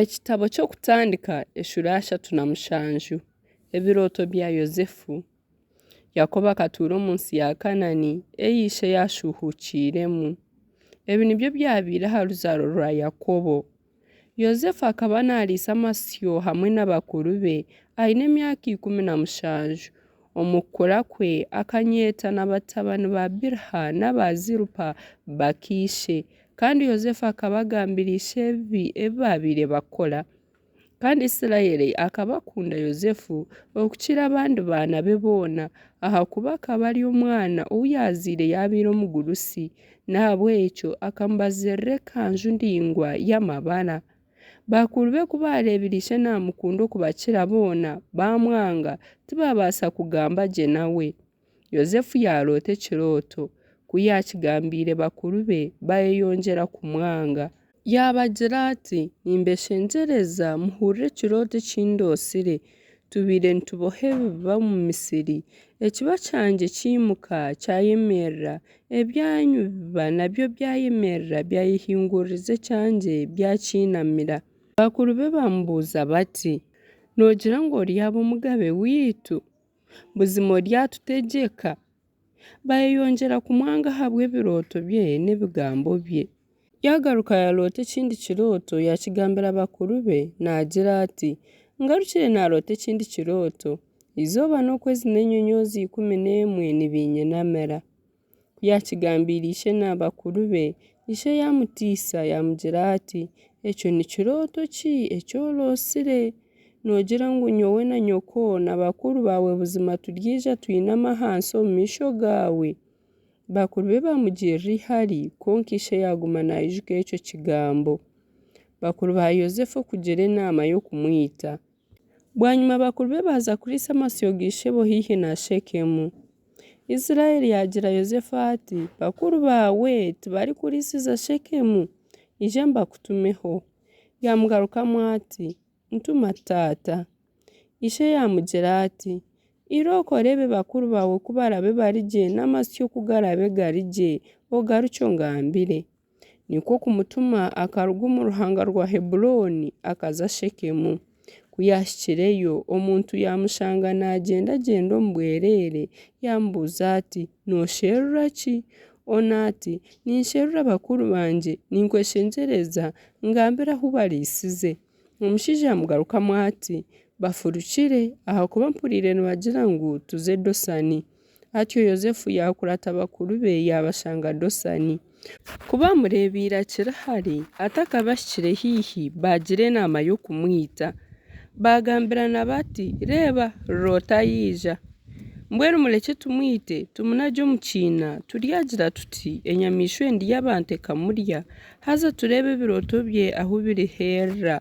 Ekitabo ky'Okutandika eshura ya shatu na mushanju Ebirooto bya Yosefu Yakobo akatuura omu nsi ya Kanani ei ishe yaashuuhuukiiremu. Ebi nibyo byabaire aha ruzaaro rwa Yakobo. Yosefu akaba naariisa amasyo hamwe na bakuru be aine emyaka ikumi na mushanju. Omu kukura kwe, akanyeeta na batabani ba Bilha n'aba Zilpa bakaishe. Kandi Yosefu akaba agambira ishe ebibi ebi baabaire bakora. Kandi Isiraeli akaba akunda Yosefu okukira abandi baana be boona, ahakuba akaba ari omwana ou yaazaire yaabaire omugurusi. N'ahabw'ekyo akamubazirira ekanju ndaingwa y'amabara. Bakuru be ku baareebire ishe naamukunda okubakira boona, baamwanga, tibaabaasa kugamba gye nawe. Yosefu yaaroota ekirooto. Ku yaakigambiire bakuru be, baayeyongyera kumwanga. Yaabagira ati, Nimbeshengyereza muhurire ekirooto eki ndoosire. Tubaire nituboha ebiba omu misiri, ekiba kyangye kyimuka, kyayemerera, ebyanyu biba nabyo byayemerera, byayehinguririza ekyangye, byakyinamira. Bakuru be baamubuuza bati, Noogira ngu oryaaba omugabe waitu? Buzima oryatutegyeka? Baayeyongyera kumwanga ahabw'ebirooto bye n'ebigambo bye. Yaagaruka yaaroota ekindi kirooto, yaakigambira bakuru be, naagira ati, Ngarukire naaroota ekindi kirooto, eizooba n'okwezi n'enyonyoozi ikumi n'emwe nibiinyinamira. Ku yaakigambiire ishe na bakuru be, ishe yaamutiisa yaamugira ati, Ekyo ni kirooto ki eki orotsire? Noogira ngu nyowe na nyoko na bakuru baawe buzima turyaija twine amahansi omu maisho gaawe? Bakuru be baamugirira eihari, kwonka ishe yaaguma naijuka ekyo kigambo. Bakuru ba Yosefu okugira enaama y'okumwita. Bwanyima bakuru be baaza kuriisa amasyo ga ishebo haihi na Shekemu. Israeli yaagira Yosefu ati, Bakuru baawe tibarikuriisiza Shekemu? Ija mbakutumeho. Yaamugarukamu ati, Ntuma taata. Ishe yaamugira ati, Ira okore ebi bakuru baawe ku baraabe bari gye n'amasyo ku garaabe gari gye, ogarukye ongambire. Nikwo kumutuma akaruga omu ruhanga rwa Heburooni akaza Shekemu. Ku yaahikireyo, omuntu yaamushanga nagyendagyenda omu bwereere, yaamubuuza ati, Noosherura ki? Ona ati, Ninsherura bakuru bangye, ninkweshengyereza, ngambira ahu bariisize. Omushaija yaamugarukamu ati, Bafurukire ahakuba mpuriire nibagira ngu tuze Dosani. Atyo Yosefu yaakurata bakuru be yaabashanga Dosani. Ku baamureebeire akiri hare, atakabahikire haihi, baagira enaama y'okumwita. Baagambirana bati, Reeba, Looti ayaija. Mbwenu murekye tumwite, tumunagye omu kiina, turyagira tuti, 'Enyamaishwa endi y'abantu ekamurya, haza tureebe ebirooto bye ahu biriheerera.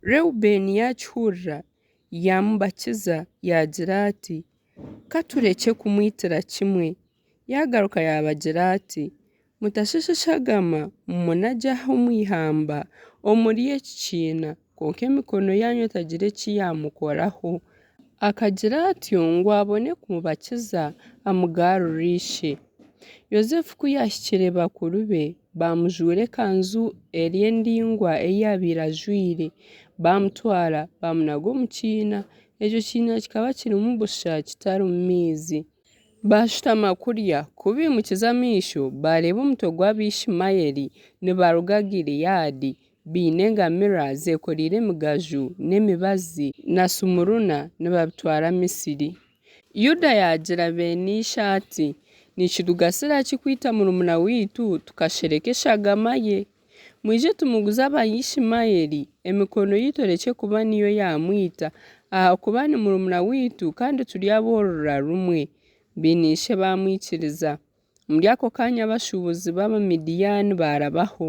Reubeeni yaakihurira, yaamubakiza, yaagira ati, Ka turekye kumwitira kimwe. Yaagaruka yaabagira ati, Mutashashashagama munagya aha omu ihamba omuri eki kiina, kwonka emikono yaanyu etagira eki yaamukoraho. Akagira atyo ngu abone kumubakiza amugaarure ishe. Yosefu ku yaahikire bakuru be, baamujuura ekanzu eri endaingwa ei yaabaire ajwaire, baamutwara baamunaga omu kiina, Ekyo kiina kikaba kirimu busha kitarimu maizi. Baashutama kurya. Ku baimukize amaisho, baareeba omutwe gw'Abaishumaeli nibaruga Gileadi, baine engamiira zeekoreire emigaju n'emibazi na sumuruna nibabitwara Misiri. Yuda yaagira beene ishe ati, Nikitugasira ki kwita murumuna waitu tukashereka eshagama ye? Mwije tumuguze aba Yishimayeli emikono yaitu erekye kuba niyo yaamwita, ahakuba ni murumuna waitu kandi turi ab'orurira rumwe. Baine-ishe baamwikiriza. Omuri ako kaanya abashuubuzi b'Abamidiani baarabaho,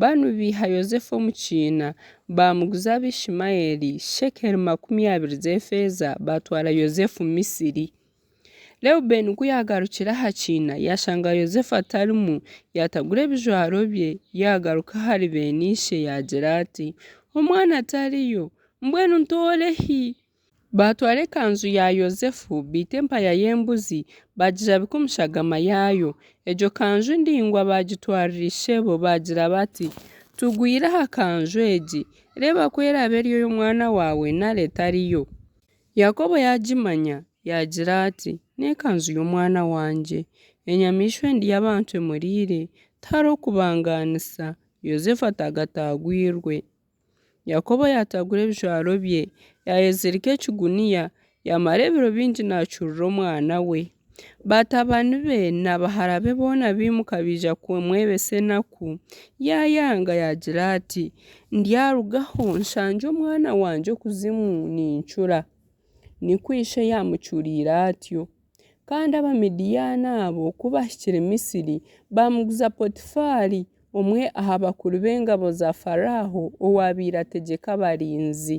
banu baiha Yosefu omu kiina, baamuguza aba Yishimayeli shekeli makumi abiri z'efeeza, baatwara Yosefu Misiri. Reubeeni ku yaagarukire aha kiina, yaashanga Yosefu atarimu, yaatagura ebijwaro bye, yaagaruka ahari beene ishe, yaagira ati, Omwana tariyo! Mbwenu ntoore hi? Baatwara ekanzu ya Yosefu, baita empaya y'embuzi, baagijabika omu shagama yaayo. Egyo kanju ndaingwa baagitwarira ishebo, baagira bati, Tugwire aha kanju egi. Reeba ku eraabe eri ey'omwana waawe nari etariyo. Yakobo yaagimanya, yaagira ati, N'ekanzu y'omwana wangye! Enyamaishwa endi y'abantu emuriire. Tihariho kubangaanisa, Yosefu ataagataagwirwe. Yakobo yaataagura ebijwaro bye, yaayezirika ekiguniya, yaamara ebiro bingi naacurura omwana we. Batabani be na bahara be boona baimuka baija kumwebesa enaku. Yaayanga yaagira ati, Ndyarugaho nshangye omwana wangye okuzimu nincura. Nikwo ishe yaamucuriire atyo. Kandi Abamidiyaani abo ku baahikire Misiri, baamuguza Potifaari, omwe aha bakuru b'engabo za Faraaho owaabaire ategyeka abarinzi.